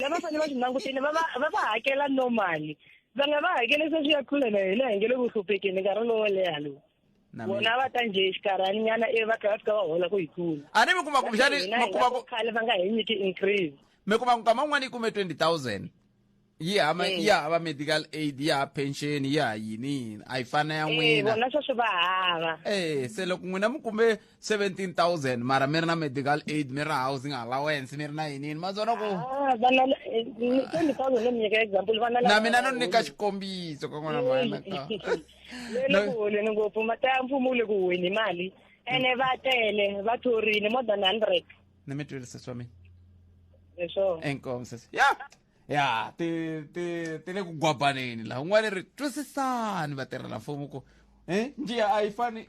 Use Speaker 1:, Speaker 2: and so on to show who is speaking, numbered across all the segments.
Speaker 1: lava fanele va swi languteni va va va va hakela normally va nga va hakele se swi ya kule na hina hi nge le ku hluphekeni nkarhi lowo leha lowu Na mina. vona va ta nje xikarhani nyana ivi va tlhela va fika va hola ku yi kula a ni mi kuma ku xani
Speaker 2: Hina mi hi kuma nga ku ku khale va nga hi nyiki
Speaker 1: increase mi kuma ku nkama un'wana
Speaker 2: yi kume 20000 yi hama Mm. yi hava medical aid yi hava pension yi ha yini yini a yi fana ya Eh, n'wina vona sweswo va hava
Speaker 1: eh se loko n'wina
Speaker 2: mi kume 17000 mara mi ri na medical aid mi ri na housing allowance mi ri na yinini mazona ku Ah, vana eh,
Speaker 1: ni- 20,000 no mi nyika example vana na lava- mina no nyika
Speaker 2: xikombiso ka n'wana mana ka le le ku
Speaker 1: holeni ngopfu mata ya mfumo wu le ku huweni mali ene va tele va thorile more than hundred ni mi twile sesi wa
Speaker 2: mina hi swona
Speaker 1: enkomo sesi ya
Speaker 2: ya ti ti ti le ku gwabaneni laha un'wana ri twisisani vatirhela mfumo ku e njiya a yi fani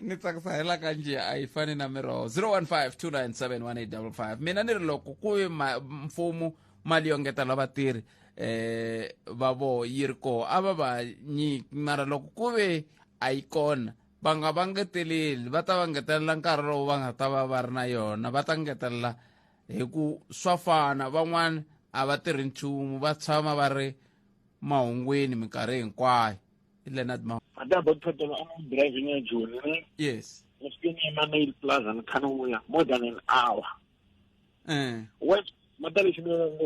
Speaker 2: ni tsakisa hela ka njiya a yi fani na miroho 0152971855 mina ni ri loko ku yi ma- mfumo mali yo ngetela vatirhi eh va voho yi ri koho a va va nyiki mara loko ku ve a yi kona va nga va ngeteleli va ta va ngetelela nkarhi lowu va nga ta va va ri na yona va ta ngetelela hi ku swa fana van'wana a va tirhi nchumu va tshama va ri mahungwini minkarhi hinkwayo i leonard ma adabo kuthatela
Speaker 3: ama-driving ejoni ne yes ngifikeni
Speaker 2: ema-mail
Speaker 3: plaza nikhani uya more than an hour um west matalexi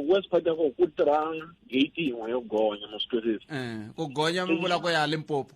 Speaker 3: west part yako ku tirha gate yin'we yo gonya mositwesesi um ku gonya mi
Speaker 2: vula ku ya limpopo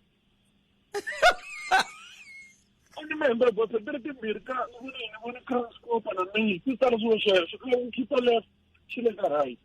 Speaker 3: a ni mi hembele bosa ti ri timbirhi ka ni ni voni transcopa na mi ti tsala swilo sweswo ka u khipa left xi le ka right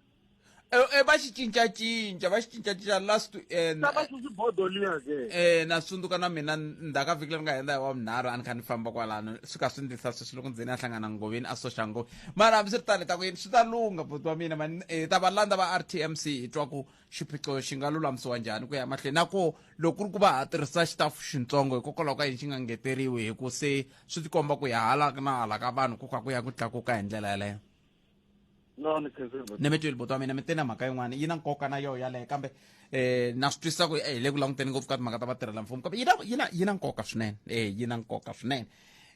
Speaker 3: e eh, eh, va
Speaker 2: xi cincacinca va xi cincacinca last to end na va susi bodo liya ke eh na tsundzuka na mina ndzhaka vhiki leri nga henda hi wa vunharhu a ni kha ni famba kwalano swi ka swi ndlisa sweswi loko ndzeni a hlangana ngoveni a soxa ngove mara hambi swi ri tani ta ku yini swi ta lungha boti wa mina mani eh, ta va landza va r t m c hi twa ku xiphiqo xi nga lulamisiwa njhani ku ya mahlweni na ko loko ku ri ku va ha tirhisa xitafu xintsongo hikokwalaho ka yini xi nga ngeteriwi hi ku se swi tikomba ku ya hala na hala ka vanhu ku ka ku ya ku tlakuka hi ndlela yaleyo no ni khensile ni mi twile buti wa mina mi te na mhaka yin'wana yi na nkoka na yoho yaleyo kambe um na swi twisisa ku hi le ku languteni ngopfu ka timhaka ta vatirhela mfumo kambe yi na yi na yi na nkoka swinene e yi na nkoka swinene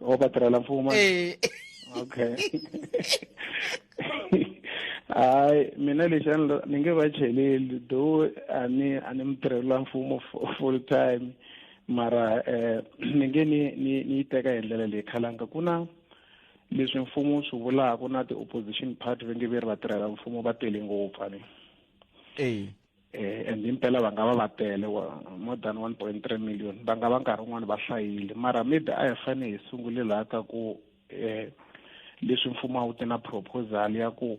Speaker 2: o batirela mfumo
Speaker 4: eh. okay hayi mina lexi ni nge va cheleli though a ni a ni mutirhela mfumo full time mara eh ni nge ni ni ni teka hi ndlela leyi khalanga ku na leswi mfumo swi vulaka na ti-opposition party va nge ve ri vatirhela mfumo va tele ngopfu ani eh, and impela va nga va va tele more than one point three million va nga va nkarhi wun'wani va hlayile mara maybe a hi fane hi sungule laha ka ku um leswi mfumo a wu te na proposal ya ku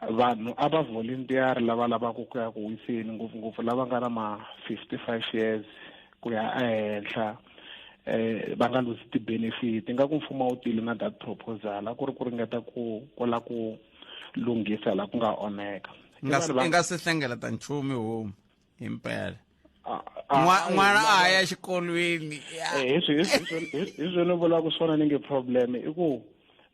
Speaker 4: vanhu a va volunteer lava lavaka ku ya ku wiseni ngopfungopfu lava nga na ma-fifty five years ku ya ehenhla eh va nga luzi ti-benefit ingaku mfumo wu tile na that proposal a ku ri ku ringeta ku kola ku lunghisa la ku nga onheka i nga si
Speaker 2: hlengeleta nchumu homu hi mpela n'wana a ya xikolweni eh,
Speaker 4: hi swo ni vulaka swona ni nge problem i ku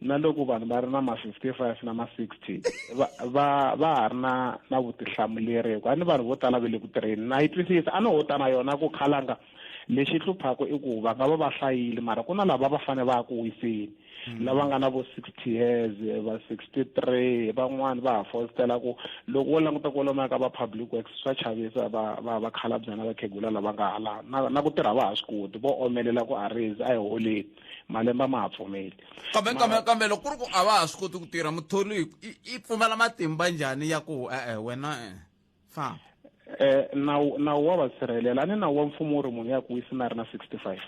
Speaker 4: na loko vanhu va ri na ma-fifty five na ma-sixty va va va ha ri na na vutihlamuleri hikuva ni vanhu vo tala va le ku tirheni na yi twisisa a no ho ta na yona ku khalanga lexi hluphaka i ku va nga va va hlayile mara ku na lava va fane va ya ku wiseni mm. lava nga na vo sixty years va sixty three van'wani va ha fositela ku loko wo languta ku lomaya ka va public works swa chavisa va va va khalabyana vakhegula lava nga hala na na ku tirha va ha swi koti vo omelela ku a rezi a hi holeni malembe a ma ha pfumeli kambe kambe kambe loko
Speaker 2: ku ri ku a va ha swi koti ku tirha mutholi i pfumala matimba njhani ya ku e-e wena e fa eh nawu
Speaker 4: nawu wa vasirhelela ni nawu wa mfumo wu ri munhu ya ku wisi na ri na sixty five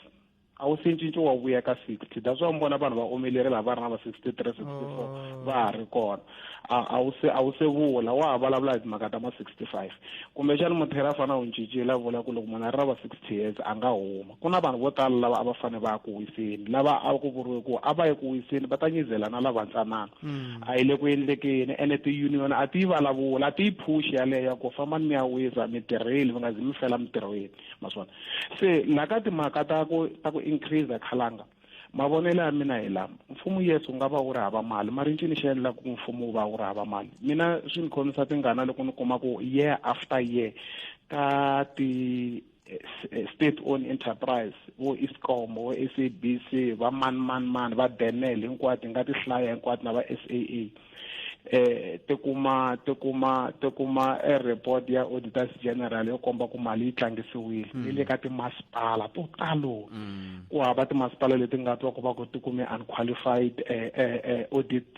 Speaker 4: a wu se cinci wa vuya ka sixty that's why mi vona vanhu va omelere lava va ri na va sixty three sixty four oh. va ha ri kona a wu se a wu se vula wa ha vulavula hi timhaka ta ma sixty five kumbexani muthera a fana u cincile a vula ku loko munhu a ri na va sixty years a nga huma Ku na vanhu vo tala lava a va fane va ya ku wiseni, lava a ku vuriwe ku a va ye ku wiseni va ta nyizela na lavantsanana. A yi le ku endlekeni ene ti-union a ti yi vulavula, a ti yi phuxi yaleyo ya ku fambani mi ya wisa, mi tirhile mi nga zi mi fela mitirhweni, ma swi vona. Se laha ka timhaka ta ku ta ku increase khalanga, mavonelo ya mina hi lama, mfumo yes wu nga va wu ri hava mali mara i ncini xi endlaka ku mfumo wu va wu ri hava mali? Mina swi ni khomisa tingana loko ni kuma ku year after year ka ti state owned enterprise vo escom vo sabc va mani mani mani va benel hinkwato hi nga ti hlaya hinkwato na va saa eh ti kuma ti kuma ti kuma e report ya auditors general yo komba ku mali yi tlangisiwile mm. yi le ka timasipala to talo mm. ku hava timasipala leti nga twa ku va ku ti kume unqualified eh, eh, eh, audit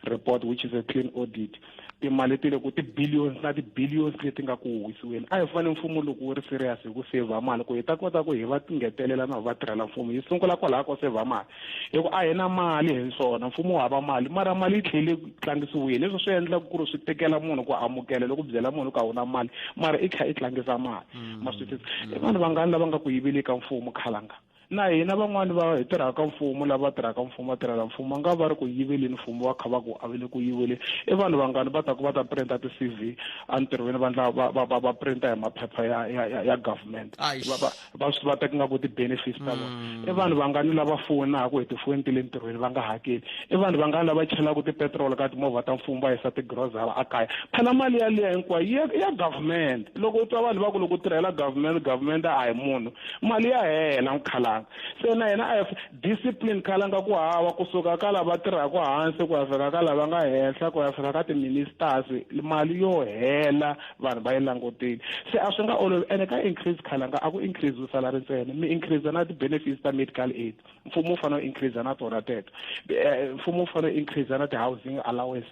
Speaker 4: report which is a clean audit timali ti le ku ti-billions na ti-billions leti nga ku huhisiweni a hi fane mfumo loko wu ri serious hi ku saver mali ku hi ta kota ku hi va tingetelela na va tirhela mfumo hi sungula kwalaha ko saver mali hi ku a hi na mali hi swona mfumo wu hava mali mara mali yi tlhele ku tlangisiwile leswi swi endlaka ku ri swi tekela munhu ku amukela loko byela munhu ku a wu na mali mara i tlhela i tlangisa mali mm. ma swi tisa i vanhu vangani lava nga ku yiveli ka mfumo khalanga Na hina van'wana va hi tirhaka mfumo lava tirhaka mfumo va tirhela mfumo va nga va ri ku yiveleni mfumo va kha va ku a va le ku yiveleni i vanhu vangani va ta ku va ta printa ti-cv entirhweni va ndla va va va va printa hi maphepha ya ya ya, ya government Aish. va va va swi va teka nga ku ti-benefits ta vona Mm. i vanhu vangani lava foyinaka hi tifoyini ti le ntirhweni va nga hakeli i vanhu vangani lava chelaka tipetrol ka timovha ta mfumo va yisa tigrosara a kaya phela mali yaliya hinkwayo i ya i ya government loko u twa vanhu va ku loko u tirhela government government a hi munhu mali ya hela mukhalanga se na yena a ya discipline khalanga ku hava kusuka ka lava tirhaka hansi ku ya fika ka lava nga henhla ku ya fika ka tiministers mali yo hela vanhu va yi langutile se a swi nga olovi ene ka increase khalanga a ku increase salary ntsena mi increase na ti-benefits ta medical aid mfumo wu fanele u increase na tona teto eh, mfumo wu fanele u increase na ti-housing allowance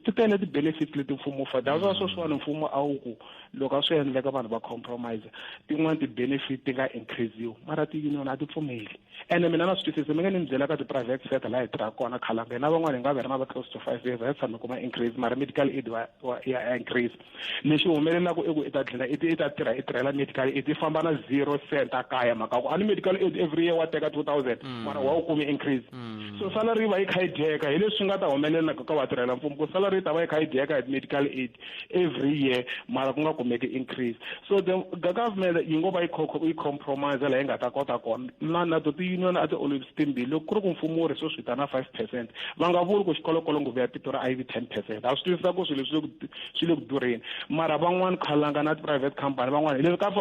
Speaker 4: ti tele ti-benefits leti mfumo wu fanele that's why sweswiwani mfumo a wu ku loko a swi endleka vanhu va compromise tin'wani ti-benefit ti nga increasiwi mara ti-union a ti pfumeli ene mina na swi twisise mi nga ni mi byelaka ti-private sector laha hi tirhaka kona khalanga hina van'wani hi nga va ri na va close to five years a hi tshame kuma increase mara medical aid wa ya increase lexi humelelaka i ku i ta tlhela i i ta tirha i tirhela medical aid i famba na zero cent a kaya mhaka ku a ni medical aid every year wa teka two thousand mm. mara wa wu kumi increase mm. so salary yi va yi kha yi dyeka hi leswi nga ta humelelaka ka vatirhela mfumo ku salary yi ta va yi kha yi dyeka hi medical aid every year mara ku nga kumeki increase so the, the government yi ngo va yi compromise laha yi nga ta kota kona na na to ti-union a ti timbirhi loko ku ri ku mfumo wu ri swo swi vitana five percent va nga vuli ku xikolokolo nguvu ya tito ra iv ten percent a swi twisisa ku swilo swi le ku durheni mara van'wani khalanga na ti-private company van'wani leswi ka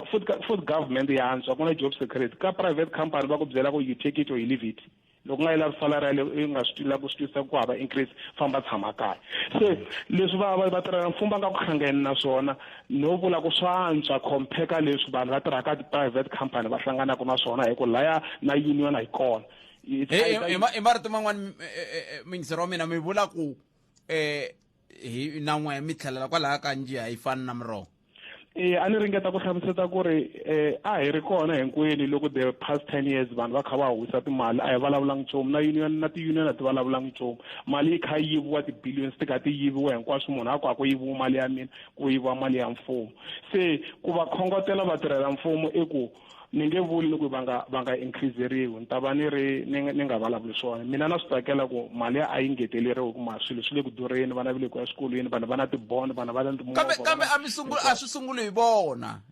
Speaker 4: food government ya antswa ku na job security ka private company va ku byela ku you take it or you leave it loko nga yi lavi salary yale i nga swi lava ku swi twisisa ku hava increase famba tshama kaya se leswi va va va tirhela mfumo va nga ku hlangani na swona no vula ku swa antswa compare ka leswi vanhu va tirhaka ti-private company va hlanganaka na swona hi ku laya na union a yi kona hi
Speaker 2: marito man'wani mingisero wa mina mi vula ku um eh, hi na n'we mi tlhelela kwalaya ka njiha yi fani na miroho e a ni
Speaker 4: ringeta ku hlamuseta ku ri um a hi ri kona hinkwenu loko the past ten years vanhu va kha va huwisa timali a hi vulavulangi nchumu na union na ti-union a ti vulavulangi nchumu mali yi kha yi yiviwa ti-billions ti kha ti yiviwa hinkwaswo munhu a ku a ku yiviwa mali ya mina ku yiviwa mali ya mfumo se ku va khongotela vatirhela mfumo i ku ni nge vuli ni ku va nga va nga increaseriwi ni ta va ni ri ni ni nga vulavuli swona mina na swi tsakela ku mali a yi ngeteleriwi ku ma swilo swi le ku durheni vana va le ku ya swikolweni vanhu va na tibond vanhu va na kambe kambe a mi sungula
Speaker 2: a swi sunguli hi vona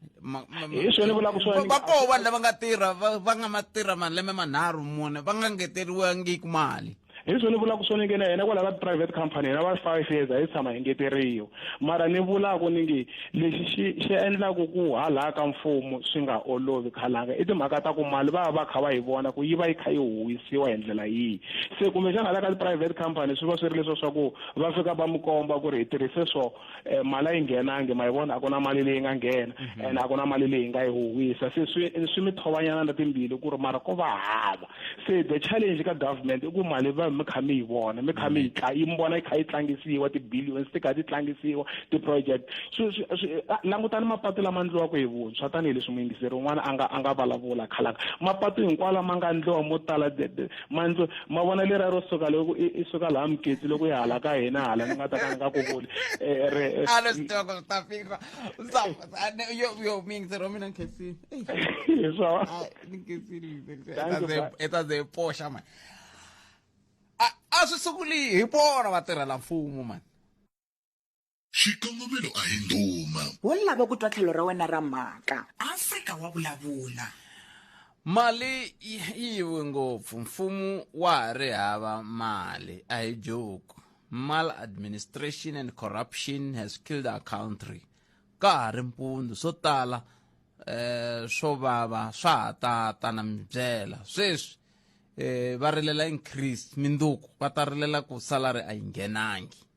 Speaker 2: hi
Speaker 4: swona vulaka swona va koho vanhu lava nga
Speaker 2: tirha va nga ma tirha malembe manharhu mune va nga ngeteriwangiku mali hi leswi
Speaker 4: ni vulaka swona nge na hina kwala ka private company hina va five years a yi tshama hi ngeteriwa mara ni vulaka ni nge lexi xi xi endlaka ku halaya ka mfumo swi nga olovi khalanga i timhaka ta ku mali va va va kha va yi vona ku yi va yi kha yi huwisiwa hi ndlela yihi se kumbexana hala ka ti-private company swi va swi ri leswo swa ku va fika va mi komba ku ri hi tirhise swo um mali a yi nghenangi ma yi vona a ku na mali leyi nga nghena mhm. and a ku na mali leyi nga yi huhwisa se swi swi mi thovanyana na timbili ku ri mara ko va hava se the challenge ka government i ku mali va mi kha mi yi vona mi kha mi yi mhm. tla yi mi vona yi kha yi tlangisiwa ti-billions ti kha ti tlangisiwa ti-project langutani mapatu lama ndliwaka hi vuntshwa tanihileswi muyingiseri un'wana a nga a nga vulavula khalaka mapatu hinkwawo lama nga ndliwa mo tala manzo ma vona lera ro suka loko i suka laha muketsi loko ya hala ka hina hala ni nga ta ka ni nga ku vuli eh, re eh, alo sitoko swi ta fika
Speaker 2: yo yo mingisi ro mina nkesini so nkesini etaze yi poxa mani a swi sukuli hi vona vatirhela mfumo mani Xikongomelo
Speaker 5: a hi ndhuma. Wo lava ku twa
Speaker 6: tlhelo ra wena ra mhaka. Afrika wa vulavula. Mali
Speaker 2: yi yive ngopfu, mfumo wa ha ri hava mali, a hi joke. Maladministration and corruption has killed our country. Ka ha ri mpundzu, swo tala eh, swo vava swa ha tata na mibyela. Sweswi eh, va rilela increase, minduku va ta rilela ku salary a yi nghenangi.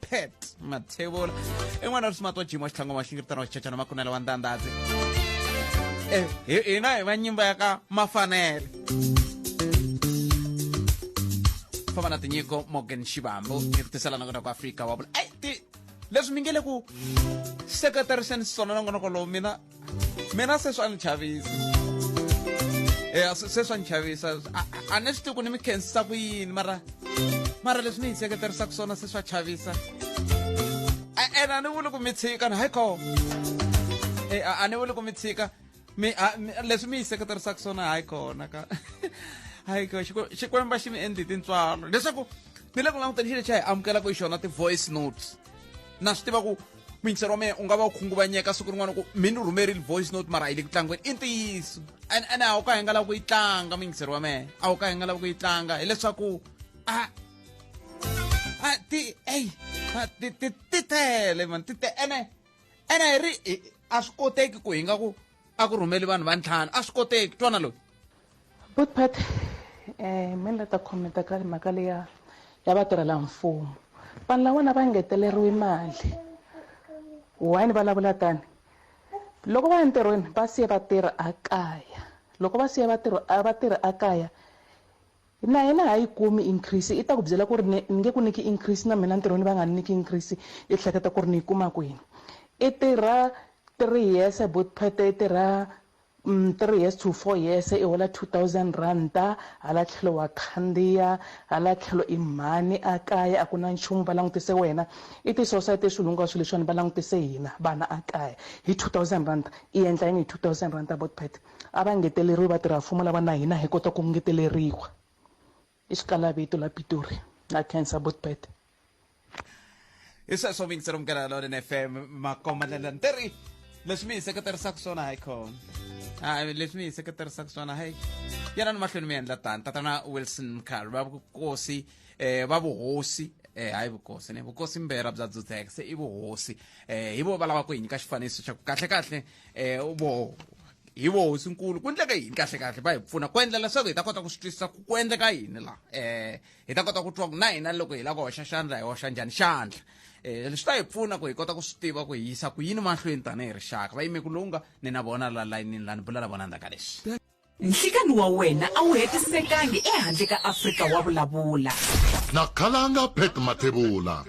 Speaker 2: pet mathevula i n'wana ri swimato jima xitlhango wa xingiritana wa xichachana makunela wa ndandadzi Eh, hi- hina hi va nyimba ya ka mafanele famba na tinyiko morgan xivambo hi ku tisela nakona ku afrika wa vula ai ti leswi mi nge le ku seketeriseni swona nongonoko lowu mina mina se swa ni chavisa eya se se swa ni chavisa A- a- a ni swi tivi ku ni mi khensisa ku yini mara mara leswi ni yi seketerisaka swona se swa chavisa A- ene a ni vuli ku mi tshika ni hayi koo e a a ni vuli ku mi tshika mi a- mi- leswi mi yi seketerisaka swona hayi kona ka hayi ko Xikwe- xikwembu a xi mi endli tintswalo leswaku ni le ku languteni xilo xa hi amukelaka hi xona ti-voice notes na swi tiva ku mintsero wa mina u nga va u khunguvanyeka siku rin'wana ku mi ni rhumerile voice note mara a yi le ku tlangweni i ntiyiso and ene a wu ka hi nga lava ku yi tlanga mingisero wa mehe a wu ka hi nga lava ku yi tlanga hileswaku a a ti ey ti ti ti tele mani ti te ene ene hi ri a swi koteki ku hi nga ku a ku rhumeli vanhu va ntlhanu a swi koteki twana loyi good part
Speaker 7: um me ni la ta khomenta ka mhaka leya ya vatirhela mfumo vanhu lawana va ngeteleriwi mali why ni vulavula tani loko va ya ntirhweni va siye vatirhi a kaya loko va siye vatirhi a vatirhi a kaya Na yena ha yi kumi increase i ta ku byela ku ri ni nge ku nyiki increase na mina ntirhweni va nga ni nyiki increase i hleketa ku ri ni yi kuma kwini i tirha three years bot phethe i tirha mm, three years to four years i hola two thousand rhanda hala tlhelo wa khandziya hala tlhelo i mhani a kaya a ku na nchumu va langutise wena i ti-society swilo hinkwaswo leswiwani va langutise hina vana a kaya hi two thousand rhanda i endla yini hi two thousand rhanda bot phethe a va ngeteleriwi vatirha-mfumo lava na hina hi kota ku ngeteleriwa i xikalavito la pitori na cancer botbet
Speaker 2: hi sweswo vingisi rumukela lolin fm makomalela ni teri leswi mi hi seketerisaka swona hi khona a leswi mi hi seketerisaka swona hi yena ni mahlweni mi endla tani tatana wilson mkhalo va vukosi um va vuhosi eh hayi vukosi ne vukosi mbera bya dzudzeka se i vuhosi eh hi vo va lava ku hi nyika xifaniso xa ku kahle kahle um vo hi vo hosinkulu ku endleka yini kahle kahle va hi pfuna ku endla leswaku hi ta kota ku swi twisisa ku ku endleka yini laha um hi ta kota ku twa ku na hina loko hi lava ku hoxa xandla hi hoxa njhani xandla um swi ta hi pfuna ku hi kota ku swi tiva ku hi yisa ku yini mahlweni tanihi rixaka vayimeku lowu nga ni na vona la layinini lani bula na vona ndzaka lexi Nhlikani wa
Speaker 6: wena a wu hetisekangi ehandle ka Afrika wa vulavula. Na
Speaker 5: Khalanga Pat Mathebula.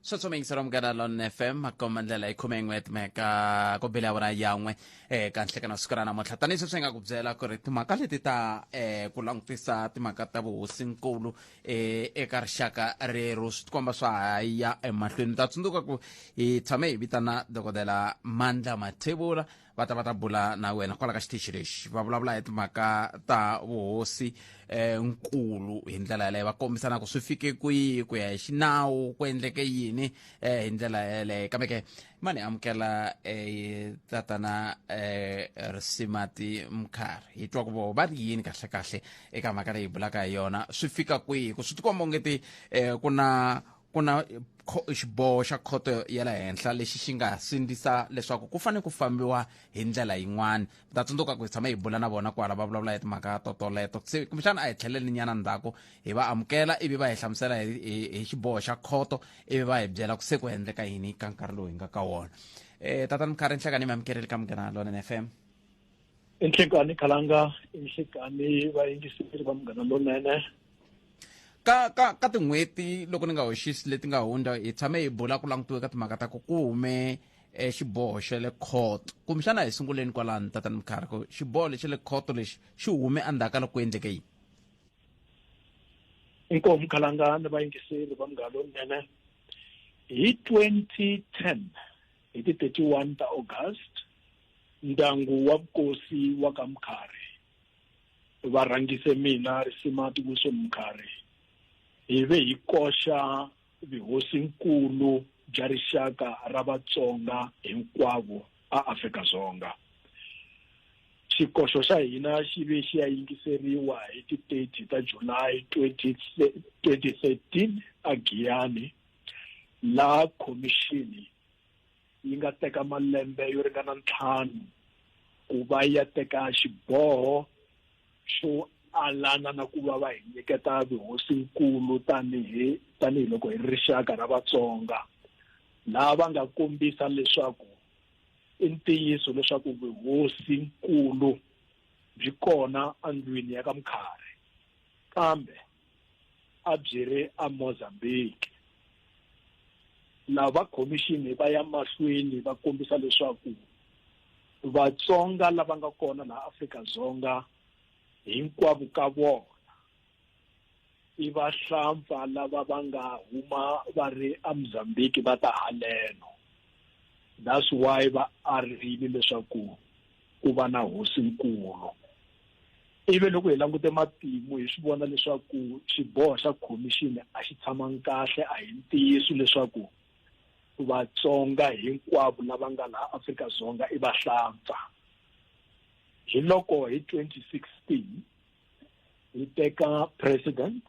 Speaker 5: swa tsoma
Speaker 2: yingisela munghana lon fm makomba ndlela yi khome yin'we timhaka ku bile awara yan'we um ka nhlekana siku ra namuntlha tanihi sweswi hi nga ku byela ku ri timhaka leti ta um ku langutisa timhaka ta vuhosinkulu um eka rixaka rero swi tikomba swa ha ya emahlweni ta tsundzuka ku hi tshame hi vitana dokodela mandla mathevula va ta va ta bula na wena kwala ka xitichi lexi va vulavula hi timhaka ta vuhosi eh, nkulu hi ndlela yeleyo va kombisana ku swi fike kwihi ku ya hi xinawu ku endleke yini eh, hi ndlela yeleyo kambe ke ma ni amukela eh, tatana eh, risimati mkhari hi twa ku vo va ri yini kahlekahle eka mhaka leyi hi bulaka hi yona swi fika kwihi ku swi tikomba ongeti eh, ku na ku na xiboho xa khoto ya le henhla lexi xi nga sindzisa leswaku ku fanele ku fambiwa hi ndlela yin'wana ta tsundzuka ku hi tshame hi bula na vona kwala va vulavula hi timhaka totoleto se kumbexana a hi tlheleli nyana ndzhaku hi va amukela ivi va hi hlamusela hi, hi, hi xiboho xa khoto ivi va hi byela ku se ku endleka yini ka nkarhi lowu hi nga ka wona um eh, tatani mukharhi nhlekani mi amukeleli ka munghana lona n f m inhlekani
Speaker 3: khalanga inhlekani vayingiseri va munghana lonene ka
Speaker 2: ka ka tin'hweti loko ni nga hoxisi leti nga hundza hi tshame hi bula ku langutiwe ka timhaka ta ku ku hume um xiboho xa le court kumbexana hi sunguleni kwalani tatani mukharhi ku xiboho lexi le court lexi xi hume endzhaku ka loko ku endleke yini
Speaker 3: inkomu khalanga ni vayingiseri va munghana lonene hi twenty ten hi ti thirty one ta august ndyangu wa vukosi wa ka Mkhari va rhangise mina risima tivuso Mkhari hi ve hi koxa vuhosinkulu bya rixaka ra Vatsonga hinkwavo a Afrika Dzonga xikoxo xa hina xi ve xi ya yingiseriwa hi ti 30 ta July 2013 a Giyani laha khomixini yi nga teka malembe yo ringana ntlhanu ku va ya teka xiboho xo alana na ku va va hi nyiketa vuhosinkulu tanihi tanihiloko hi rixaka ra vatsonga laha va nga kombisa leswaku i ntiyiso leswaku vuhosinkulu byi kona endlwini ya ka mukharhi kambe a byi ri eMozambique lava khomixini va ya mahlweni va kombisa leswaku vatsonga lava nga kona laha Afrika-Dzonga hinkwavo ka vona i vahlampfa lava va nga huma va ri eMozambique va ta haleno that's why va arile leswaku ku va na hosinkulu. Ivi loko hi langute matimu hi swi vona leswaku xiboho xa khomixini a xi tshamangi kahle, a hi ntiyiso leswaku Vatsonga hinkwavo lava nga laha Afrika-Dzonga i vahlampfa. Hi loko hi twenty sixteen hi teka president,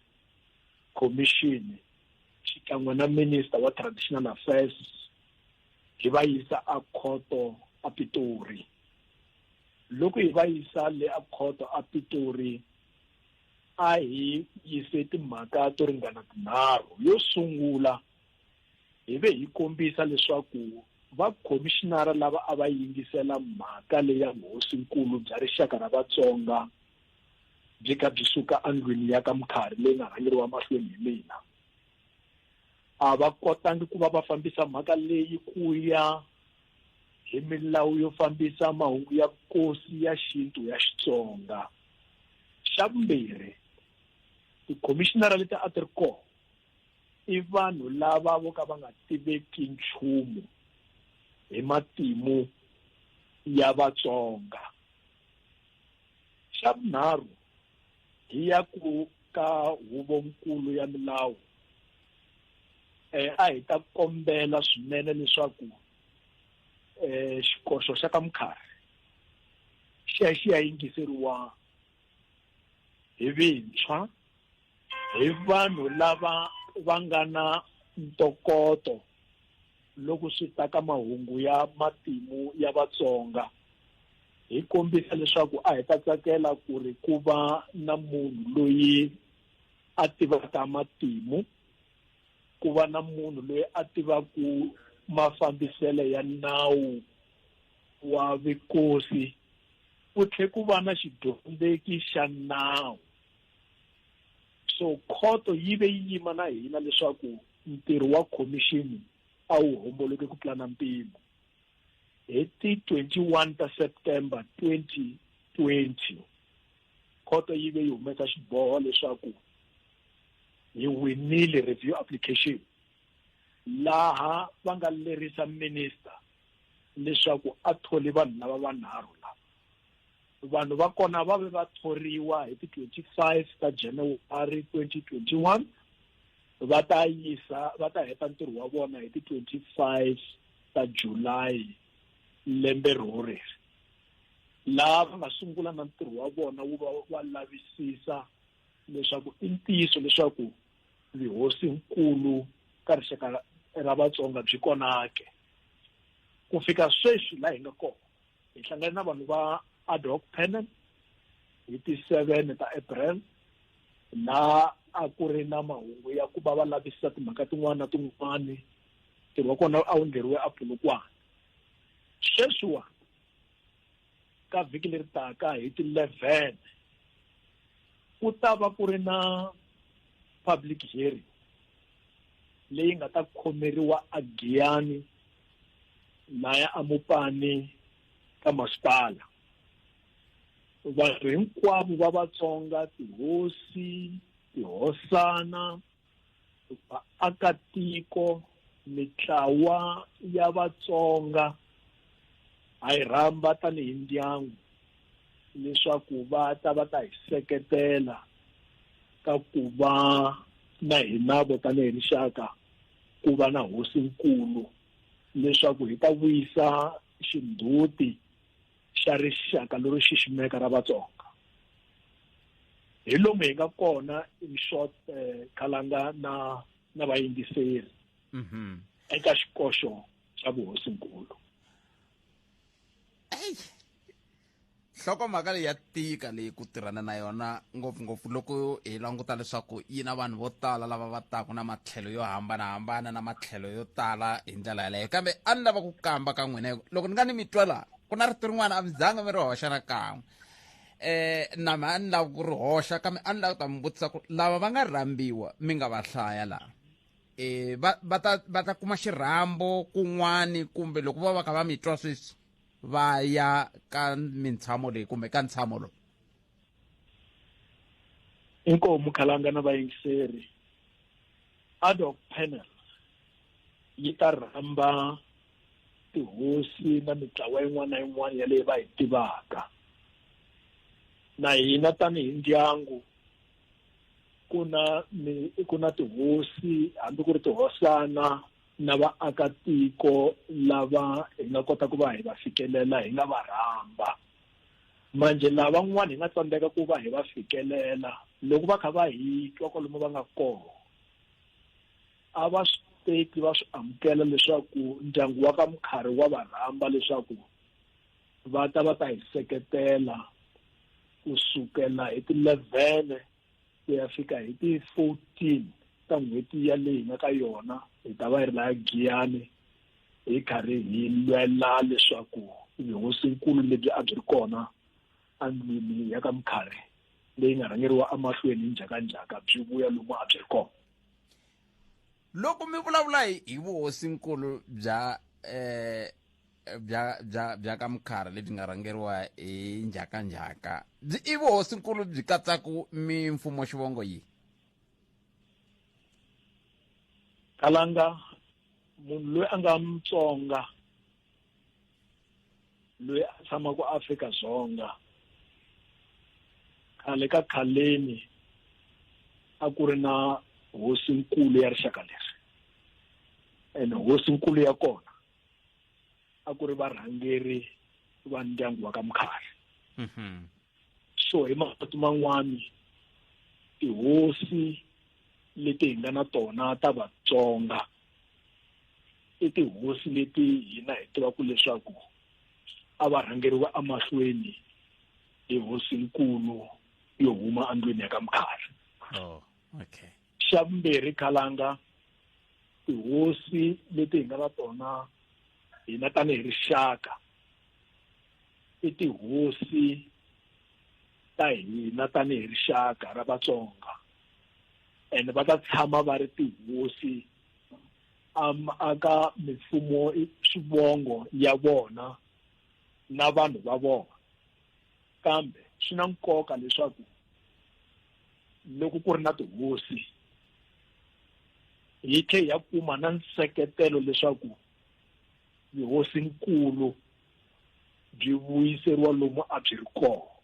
Speaker 3: khomixini xikan'we na minister wa traditional affairs, hi va yisa a khoto a pitori loko hi va yisa le a khoto a pitori a hi yise timhaka to ringana tinharhu yo sungula hi ve hi kombisa leswaku vakhomishinara lava a va yingisela mhaka leya vuhosinkulu bya rixaka ra vatsonga byi kha byi suka endlwini ya ka mukharhi leyi nga rhangeriwa mahlweni hi mina a va kotangi ku va va fambisa mhaka leyi ku ya hi milawu yo fambisa mahungu ya kosi ya xintu ya Xitsonga. Xa vumbirhi, tikhomixinara leti a ti ri kona i vanhu lava vo ka va nga tiveki nchumu hi matimu ya Vatsonga. Xa vunharhu, hi ya ku ka huvonkulu ya milawu eh a hi ta kombela swinene leswaku eh xikoxo xa ka mukharhi xi ya xi ya yingiseriwa hi vintshwa hi vanhu lava va nga na ntokoto loko swi ta ka mahungu ya matimu ya vatsonga hi kombisa leswaku a hi ta tsakela ku ri ku va na munhu loyi a tivaka matimu ku va na munhu loyi a tivaku mafambiselo ya nawu wa vikosi ku tlhe ku va na xidyondzeki xa nawu so khoto yi ve yi yima na hina leswaku ntirho wa khomixini a wu homboloke ku tlula na mpimo hi ti 21 ta september 2020 khoto yi ve yi humesa xiboho leswaku hi winile review application laha va nga lerisa minister leswaku a thole vanhu lava vanharhu lava vanhu va kona va ve va thoriwa hi ti 25 ta January 2021 va ta yisa va ta heta ntirho wa vona hi ti 25 ta July lembe rhori laha va nga sungula na ntirho wa vona wu va wa lavisisa leswaku i ntiyiso leswaku vihosi nkulu ka rixaka ra Vatsonga byi konake ku fika sweswi laha hi nga kona hi hlangane na vanhu va ad hoc panel hi ti seven ta april laha a ku ri na mahungu ya ku va va lavisisa timhaka tin'wana na tin'wana ntirho wa kona a wu endleriwe a pulukwana sweswiwa ka vhiki leri taka hi ti eleven ku ta va ku ri na public hearing leyi nga ta khomeriwa a giyani laya amupani ka masipala vanhu hinkwavo va vatsonga tihosi tihosana vaakatiko mitlawa ya vatsonga ha yi rhamba tanihi ndyangu leswaku va ta va ta hi seketela ka ku va na hina vo tanihi rixaka ku va na hosinkulu leswaku hi ta vuyisa xindzhuti xa rixaka lero xiximeka ra Vatsonga hi lomu hi nga kona in short eh, khalanga na na vayingiseri mhm eka xikoxo xa vuhosinkulu eyi
Speaker 2: nhlokomhaka leyi ya tika leyi ku tirhana na yona ngopfungopfu loko hi languta leswaku yi na vanhu vo tala lava va taku na matlhelo yo hambanahambana na matlhelo yo tala hi ndlela yaleyo kambe a ni lava ku kamba ka n'wina loko ni nga ni mi twa laha ku na rito rin'wana a mi zanga mi ri hoxa na kan'we eh nama a ni lava ku ri hoxa kambe a ni lava ku ta mi vutisa ku lava va nga rhambiwa mi nga va hlaya laha eh va ta va ta kuma xirhambo kun'wani kumbe loko va va kha va mi twa sweswi va ya ka mintshamo leyi kumbe ka ntshamo lowu
Speaker 3: inkomu khalanga na vayingiseri ad hoc panel yi ta rhamba tihosi na mitlawa yin'wana na yin'wana ya leyi va yi tivaka na hina tanihi ndyangu ku na ku na tihosi hambi ku ri tihosana na vaakatiko lava hi nga kota ku va hi va fikelela hi nga va rhamba manje lavan'wana hi nga tsandzeka ku va hi va fikelela loko va kha va hi twa kwalomu va nga kona a va swi teki va swi amukela leswaku ndyangu wa ka mukharhi wa va rhamba leswaku va ta va ta hi seketela kusukela hi ti-levene ku ya fika hi ti-fourteen ta n'hweti yaleyi hi nga ka yona hi ta va hi ri laya giyani hi karhi hi lwela leswaku vihosinkulu lebyi a byi ri kona endlwini ya ka mukharhi leyi nga rhangeriwa emahlweni hi njhakanjhaka byi vuya lomu a byi ri kona
Speaker 2: loko mi vulavula hi hi vuhosinkulu bya eh bya bya bya ka mukhara lebyi nga rhangeriwa hi njhakanjhaka byi i vuhosinkulu byi katsaku mimfumo xivongo yihi
Speaker 3: kalanga munhu loyi a nga mutsonga loyi a tshamaka Afrika Dzonga khale ka khaleni a ku ri na hosi nkulu ya rixaka leri and hosi nkulu ya kona a ku ri varhangeri va ndyangu wa ka Mkhari mhm. so hi mavito man'wana tihosi leti hi nga na tona ta Vatsonga i tihosi leti hina hi tivaka leswaku a va rhangeriwa emahlweni hi hosinkulu yo huma endlwini ya ka mkhari oh, okay.
Speaker 2: xa vumbirhi
Speaker 3: khalanga tihosi leti hi nga na tona hina tanihi rixaka i tihosi ta hina tanihi rixaka ra Vatsonga and va ta tshama va ri tihosi um aka mifumo swivongo ya vona na vanhu va vona kambe swi na nkoka leswaku loko ku ri na tihosi hi tlhe ya kuma na nseketelo leswaku yihosinkulu byi vuyiseriwa lomu a byi ri kona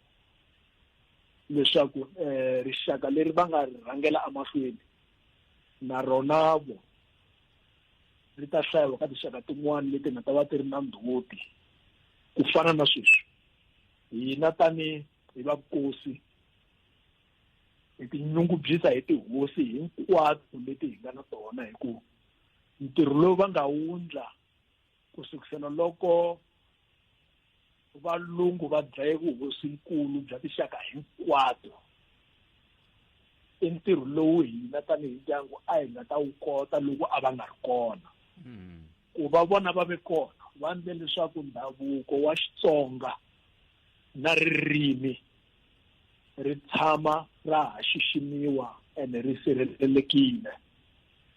Speaker 3: leswaku um rixaka leri va nga ri rhangela emahlweni na rona vo ri ta hlayiwa ka tinxaka tin'wana leti nga ta va ti ri na ndhuti ku fana na sweswi hina tani hi vakosi hi tinyungubyisa hi tihosi hinkwato leti hi nga na tona hi ku ntirho lowu va nga wundla ku sukisela loko valungu va dlaye vuhosinkulu bya tinxaka hinkwato i ntirho lowu hina tanihi ndyangu a hi nga ta wu kota loko a va nga ri kona hmm. ku va vona va ve kona va ndle leswaku ndhavuko wa xitsonga na ririmi ri tshama ra ha xiximiwa ene ri sirhelelekile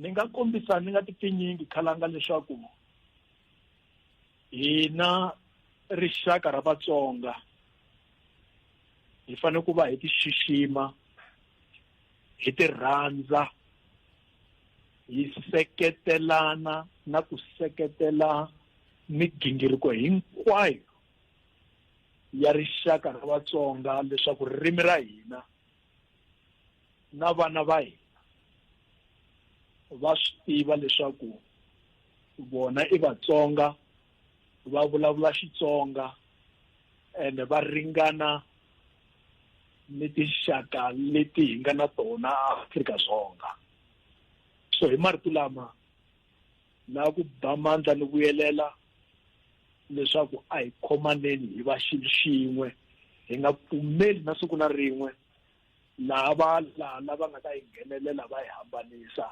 Speaker 3: ni nga kombisa ni nga ti pfinyingi khalanga leswaku hina rixaka ra vatsonga hi fanele ku va hi ti xixima hi ti rhandza hi seketelana na ku seketela migingiriko hinkwayo ya rixaka ra vatsonga leswaku ririmi ra hina Na vana va hina va swi tiva leswaku vona i Vatsonga, va vulavula Xitsonga ene va ringana ni tinxaka leti hi nga na tona Afrika-Dzonga. So hi marito lama na ku ba mandla ni vuyelela leswaku a hi khomaneni hi va xilo xin'we, hi nga pfumeli na siku na rin'we laha valala va nga ta yi nghenelela va yi hambanisa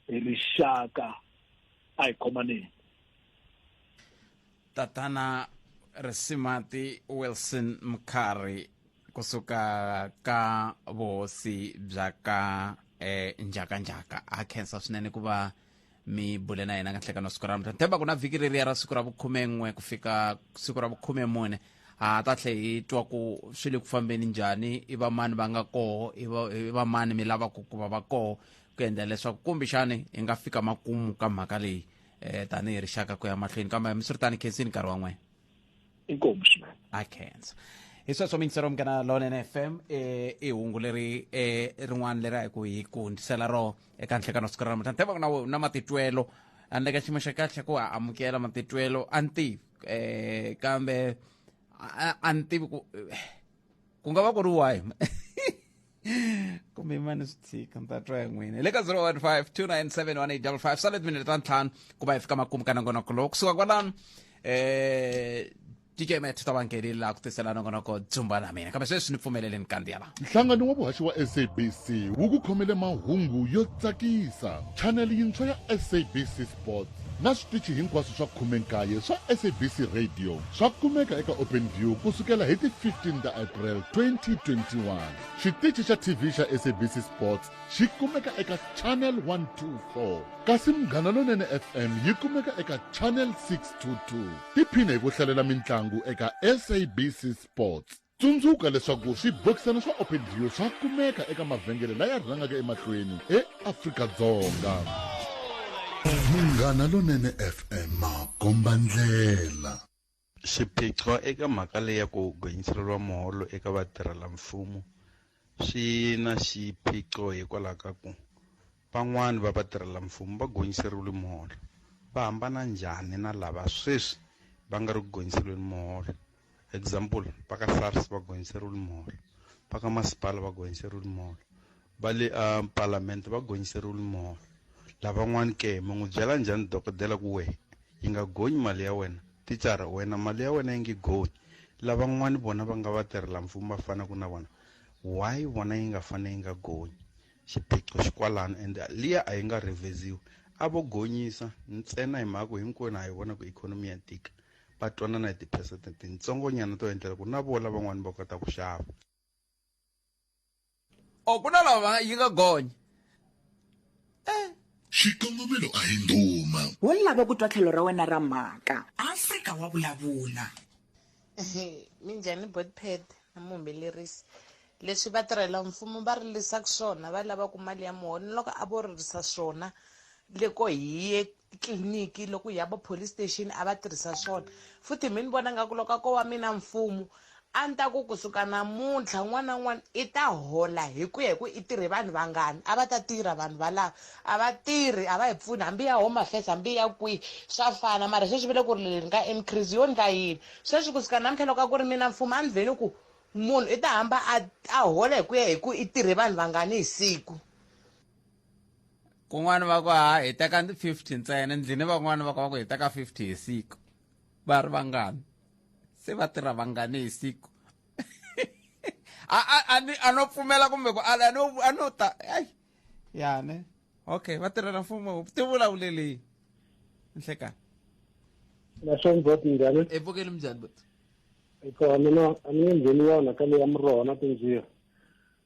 Speaker 3: hi rixaka a hi khomaneni
Speaker 2: tatana risimati wilson mkhari kusuka ka vuhosi bya ka eh, njhakanjhaka ha khensa swinene ku va mi bule na yena kahlekano siku ra mutani themba ku na vhiki reriya ra siku ra vukhumen'we ku fika siku ra vukhume mune ha ta tlhe hi twa ku swi le ku fambeni njhani i vamani va nga koho i va- i vamani mi lavaka ku va va koho ku endla leswaku kumbexani hi nga fika makumu ka mhaka leyi um tanihi rixaka ku ya mahlweni kambe mi swi ri tani khensini nkarhi wa n'wena inkomu
Speaker 3: swinene a khensa
Speaker 2: hi sweswo mingisero mukana lone na fm um eh, i hungu leri um rin'wana leri a hi ku hi ku ndisela ro eka nhlekano siku ra namuntlha ni tiva na we na matitwelo a ni le ka xiyimo xa kahle ku a amukela matitwelo a ni tivi um kambe a ni tivi ku eh, ku nga va ku ri why kumbe imani swi tshika ni ta twa ya n'wina hi le ka 015 sale timinete ta ntlhanu ku va hi fika makumu ka nongonoko lowu kusuka kwalano eh DJ Matt ta va nghenile laha ku tisela nongonoko dzumba na mina kambe sweswi ni pfumelele ni kandziya laha nhlangano wa vuhaxi wa
Speaker 5: sabc wu ku khomele mahungu yo tsakisa chaneli yintshwa ya sabc Board na switichi hinkwaswo swa khume-nkaye swa SABC Radio swa kumeka eka Openview ku sukela hi ti 15 ta April 2021. Xitichi xa TV xa SABC Sports xi kumeka eka Channel 124 kasi Munghana Lonene FM yi kumeka eka Channel 622. Tiphine hi ku hlalela mintlangu eka SABC Sports. Tsundzuka leswaku swibokisana swa Open View swa kumeka eka mavhengele laya rhangaka emahlweni eAfrika-Dzonga. Munghana Lonene FM makomba ndlela. Xiphiqo
Speaker 8: eka mhaka leyi ya ku gonyiseriwa muholo eka vatirhela mfumo Swi na xiphiqo hikwalaho ka ku van'wani va vatirhelamfumo va gonyiseriwile muholo. Va hambana njhani na lava sweswi va nga ri ku gonyiseriweni muholo? Example, va ka SARS va gonyiseriwile muholo, va ka masipala va gonyiseriwile muholo, va le a palamende va gonyiseriwile muholo, lavan'wani ke? Mi n'wi byela njhani dokodela ku wehe Yi nga gonyi mali ya wena. Thicara, Wena mali ya wena yi nge gonyi. Lavan'wana vona va nga vatirhela-mfumo va fanaka na vona. Why vona yi nga fane yi nga gonyi? Xiphiqo xi kwalano ende liya a yi nga rhevheziwi. A vo gonyisa ntsena hi mhaka ku hinkwenu ha yi vona ku ikhonomi ya tika. Va twanana hi tiphesente tintsongonyana to endlela ku na vo lavan'wana va kota ku xava.
Speaker 2: o ku na lava yi nga gonya
Speaker 5: xikongomelo a hi ndhuma wo lava ku twa tlhelo
Speaker 6: ra wena ra mhaka afrika wa vulavula
Speaker 9: minjhani botpad na muhumelerisi leswi vatirhela mfumo va rilisaka swona va lavaka mali ya muholo loko a vo ririsa swona loko hi ye titliliniki loko hi ya va police station a va tirhisa swona futhi mi ni vona nga ku loko a ko wa mina mfumo a ni ta ku kusuka namuntlha n'wana n'wana i ta hola hi ku ya hi ku i tirhe vanhu vangani a va ta tirha vanhu valava a va tirhi a va hi pfuni hambi ya home affairs hambi ya kwihi swa fana mara sweswi vile ku ri leri nga increase yo ndla yini sweswi kusuka namuntlha loko a ku ri mina mfumo a ni vheni ku munhu i ta hamba a a hola hi ku ya hi ku i tirhe vanhu vangani hi siku
Speaker 2: kun'wana va ku ha heta ka 50 ntsena ndlini van'wana va ku va ku heta ka 50 hi siku va ri vangani se va tirha vangani hi siku a no pfumela kumbe ku ala a no ta ai yane okay va tirhela mfumo ti vulavuleleni nhlekani
Speaker 3: naswona boti njhani epfukeni minjhani boti
Speaker 2: ikona
Speaker 3: mina a ni nge ngheni yona ka leya muroho na tinjira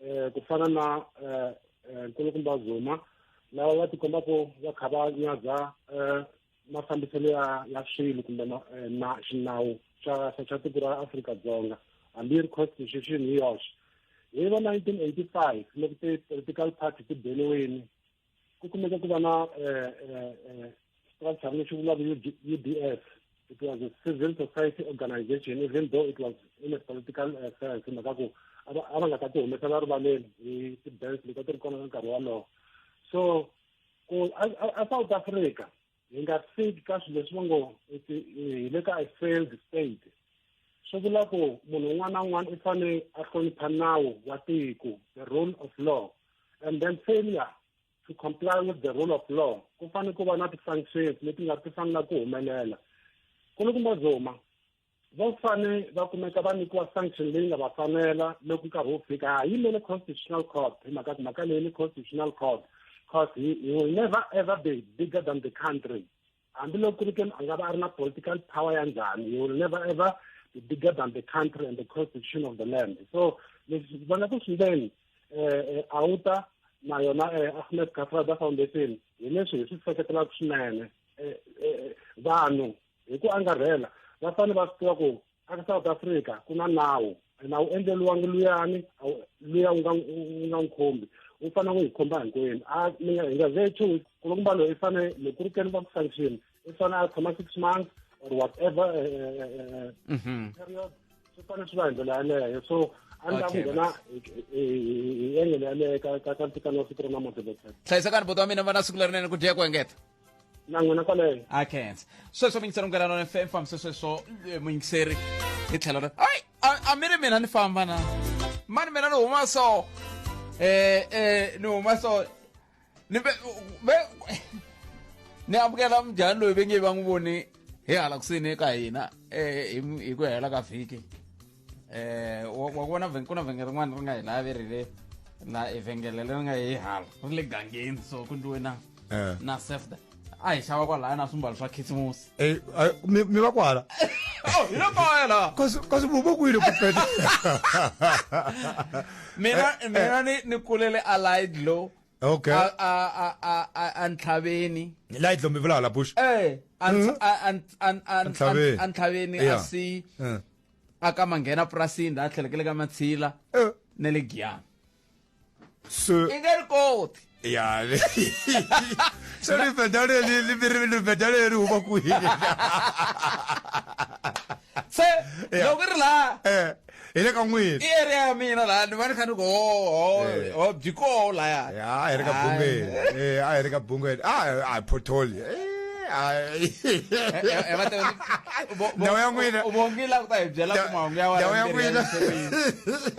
Speaker 3: um ku fana na um nkulukumba zuma lava va tikombaku va kha va nyadza um mafambiselo ya ya swilo kumbe na xinawu xa xa tiko ra afrika dzonga hambi yi ri constitution hi yoxe hi va nineteen eighty five loko ti-political party ti beliweni ku kumeka ku va na eh, eh, eh, structure lexi vulaka udf it was a civil society organization even though it was in a political uh, sense mhaka ku a va nga ta ti humesela rivaleni hi ti-banks leti a ti ri kona ka nkarhi wolowo so ku a south africa hi nga fiki ka swilo leswi va ngo hi le ka a failed state swi vula ku munhu un'wana na un'wana i fanele a hlonipha nawu wa tiko the rule of law and then failure to comply with the rule of law ku fanele ku va na ti-sanctions leti nga ti fanela ku humelela ku ni ku mazoma va fane va kumeka va nyikiwa sanction leyi nga va fanela loko nkarhi wu fika ha yimele constitutional court hi mhaka ku mhaka leyi ni constitutional court cause he, he will never ever be bigger than the country hambiloko ku ri ke a nga va a ri na political power ya njhani he will never ever be bigger than the country and the constitution of the land so leswi vona ku swindeni eh, eh, auta na yona eh, ahmed kafrada foundation hi leswi hi swi seketelaka swinene vanhu hi ku angarhela va fanele va swi tiva ku aka south africa ku na nawu ena wu endleliwangi luyani luya u nga u nga n'wi khombi u fanele ku hi khomba hinkwenu a mi nga hi nga ve two weeks ku ri kumba loyi i fanele loko ku ri keni va ku sanction i fanele a tshama six months or whatever eh, eh, eh, mhm. period swi fanele swi va hi ndlela yaleyo so a ni la ku nghena hi engele yaleyo ka ka ka ntikano wa siku ra namuntlha hlayisakani bota wa mina
Speaker 2: va na siku lerinene ku dya ku engeta na n'wina
Speaker 3: kwaleyo a khensa
Speaker 2: sweswo mi yingisela munghana lona fm fambise sweswo eh, muyingiseri hi tlhelo ra ai a- a mi ri mina ni famba na mani mina ni huma so eh eh ni huma so ni be be ni amukela mjhani loyi ve nge va n'wi voni hi hala kusini eka hina eh hi hi ku hela ka vhiki eh wa wa vona vhen- ku na vhengele rin'wana ri nga hi laha ve ri le na e vhengele leri nga hi hala ri le gangeni so ku ndiwe na Eh. na sefda a hi xava kwalaya na swimbalo swa khisimusi Eh, ah, mi mi va
Speaker 10: kwala Oh, hi le
Speaker 2: kaya laha kasi kasi vuva kwini
Speaker 10: ku peta
Speaker 2: mina mina ni ni kulele a light low okay a a a
Speaker 10: a
Speaker 2: a- a ntlhaveni light lomi vulala
Speaker 10: bush eh a ntl- a- a- a- a- a-
Speaker 2: Ntlhaveni. a ntlhaveni a Yeah. si Eh. a ka manghena purasini laha tlhelekele ka matshila eh. na le giyana
Speaker 10: so i nge ri koti
Speaker 2: ya
Speaker 10: so libeda leli libeda leri huma kwihi
Speaker 2: se loko ri laha eh, hi le ka
Speaker 10: n'wini i area ya mina laha
Speaker 2: ni va ni kha ni ku ho eh. ho byi koho lahaya a hi ri ka bungeni
Speaker 10: a hi ri ka bungeni a hi photoli Ai. Eh, eh, va te bo- bo- Ndhawu ya n'wina. u- u vongila ku ta hi byela
Speaker 2: ku mahungu ya Ndhawu ya n'wina.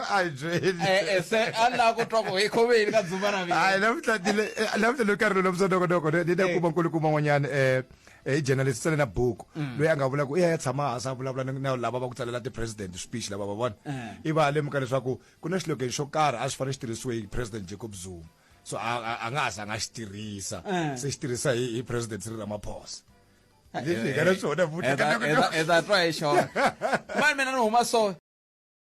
Speaker 10: A hi byeli. Eh, se a ni lava ku
Speaker 2: twa ku hi khoveni ka dzumba na mina hayi namuntlha ni le- eh,
Speaker 10: namuntlha ni karhi lowu lamusa ntokonoko ni ni na kuma nkulukumba n'wanyana um hi journalist tsale na buku loyi a nga vula ku i ya ya tshama hansi a vulavula ni- na lava va ku tsalela ti-president speech lava va vona i va a lemuka leswaku ku na xilogeni xo karhi a swi fanele xi tirhisiwe hi president jacob zuma so a nga ha za nga xi tirhisa eh. se xi tirhisa hi hi president Cyril Ramaphosa eh, leswi
Speaker 2: hi nga na eh,
Speaker 10: swona
Speaker 2: futhi
Speaker 10: ka
Speaker 2: ta twa hi
Speaker 10: xona
Speaker 2: mani mina ni
Speaker 10: huma
Speaker 2: so